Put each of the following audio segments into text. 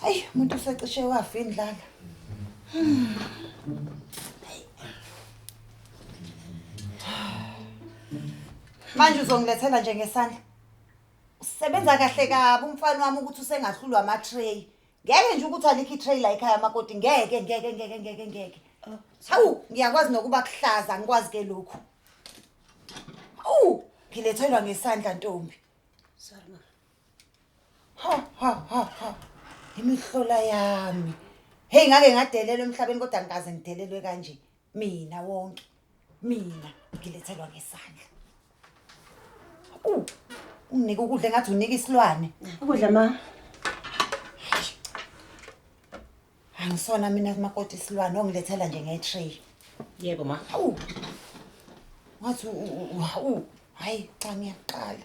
Hayi, umuntu usecishe wafa indlala. Manje uzongilethela nje ngesandla. Usebenza kahle kabi umfana wami ukuthi usengahlulwa ama tray. Ngeke nje ukuthi alikho i tray la ekhaya makoti ngeke ngeke ngeke ngeke ngeke. Hawu, ngiyakwazi nokuba kuhlaza ngikwazi ke lokhu. Awu, ngilethelwa ngesandla ntombi. Sorry ma. Ha ha ha ha. Imihlola yami. Hey ngake ngadelelwa emhlabeni kodwa ngikaze ngidelelwe kanje. Mina wonke. Mina ngilethelwa ngesandla. U unginike ukudla ngathi unika isilwane. Ukudla ma. angisona mina kumakoti isilwane ongilethela nje nge-tray yebo ma hawu wathi u- u- u- hawu hhayi cha ngiyaqala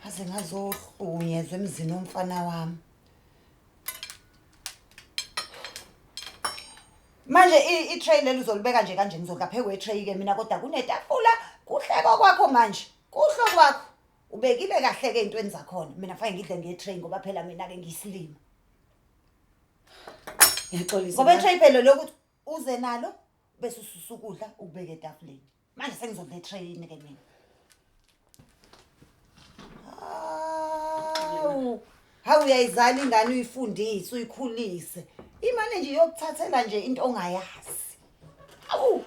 aze ngazohlunyezwa emzini womfana wami manje i- i-tray leli uzolibeka nje kanje ngizodla phezu kwetray-ke mina kodwa kunetafula kuhle kokwakho manje kuhle okwakho ubekile kahle-ke ey'ntweni zakhona mina fanele ngidle nge-tray ngoba phela mina-ke ngiyisilima ngiyaxolisa ngoba itrey phela lokuthi uze nalo bese ususa ukudla ukubeke etafuleni manje sengizodla itrey yini ke mina hawu hawu uyayizala ingane uyifundise uyikhulise imane nje yokuthathela nje into ongayazi awu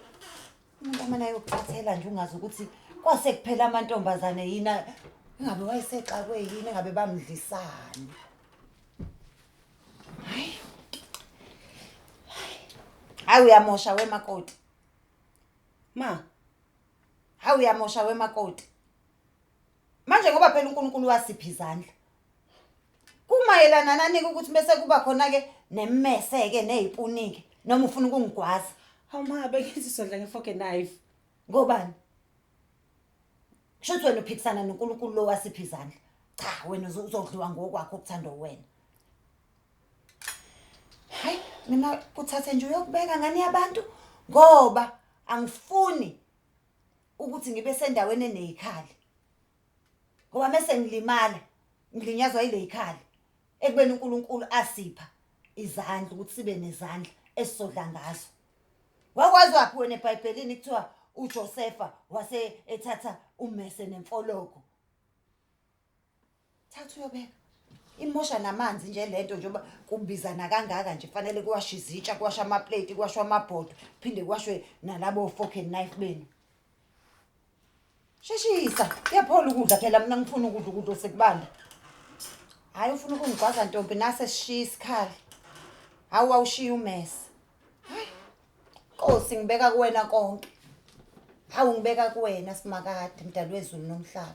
Umuntu amane ayokucathela nje ungazi ukuthi kwase kuphela amantombazane yini a- engabe wayesexakwe yini engabe bamdlisani. Hayi. Hayi uyamosha wemakoti. Ma. Hayi uyamosha wemakoti. manje ngoba phela uNkulunkulu wasipha izandla kumayelana nani ukuthi bese kuba khona ke nemmese ke nezipunike noma ufuna ukungigwaza hawu ma bekizisondla ngefoke knife ngobani Shuthi wena uphikisana noNkulunkulu lo wasipha izandla cha wena uzodliwa ngokwakho okuthandwa wena hayi mina kuthathe nje uyokubeka ngani yabantu ngoba angifuni ukuthi ngibe sendaweni eneyikhali ngoba mese ngilimala ngilinyazwa ile yikhali ekubeni uNkulunkulu asipha izandla ukuthi sibe nezandla esizodla ngazo wakwazi waphi wena ebhayibhelini kuthiwa uJosefa wase ethatha ummese nemfologo thatha uyobeka imosha namanzi nje le nto njengoba kubizana kangaka nje kufanele kuwashe izitsha kuwashe amapleti kuwashwe amabhodo phinde kuwashwe nalabo fork and knife benu sheshisa kuyaphola ukudla phela mina ngifuna ukudla ukudla osekubanda hhayi ufuna ukungigwaza ntombi nase sishiya isikhala hawu wawushiya umesa hayi nkosi ngibeka kuwena konke hawu ngibeka kuwena simakade mdali wezulu nomhlaba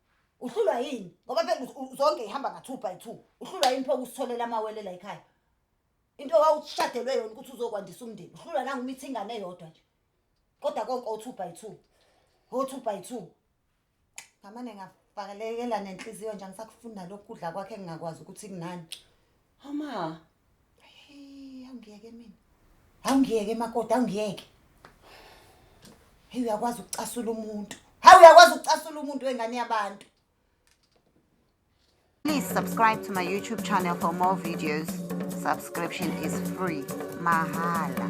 uhlulwa yini ngoba phela zonke ihamba nga-two by two uhlulwa yini phoke usitholela amawele la ekhaya into wawushadelwe yona ukuthi uzokwandisa umndeni uhlulwa nangumithi ingane eyodwa nje kodwa konke o-two by two o-two by two ngamane ngafakelekela nenhliziyo nje angisakufunda lokhu kudla kwakhe engingakwazi ukuthi kunani hama awungiyeke mina awungiyeke makoti awungiyeke heyi uyakwazi ukucasula umuntu hayi uyakwazi ukucasula umuntu wengane yabantu Please subscribe to my YouTube channel for more videos. Subscription is free. Mahala.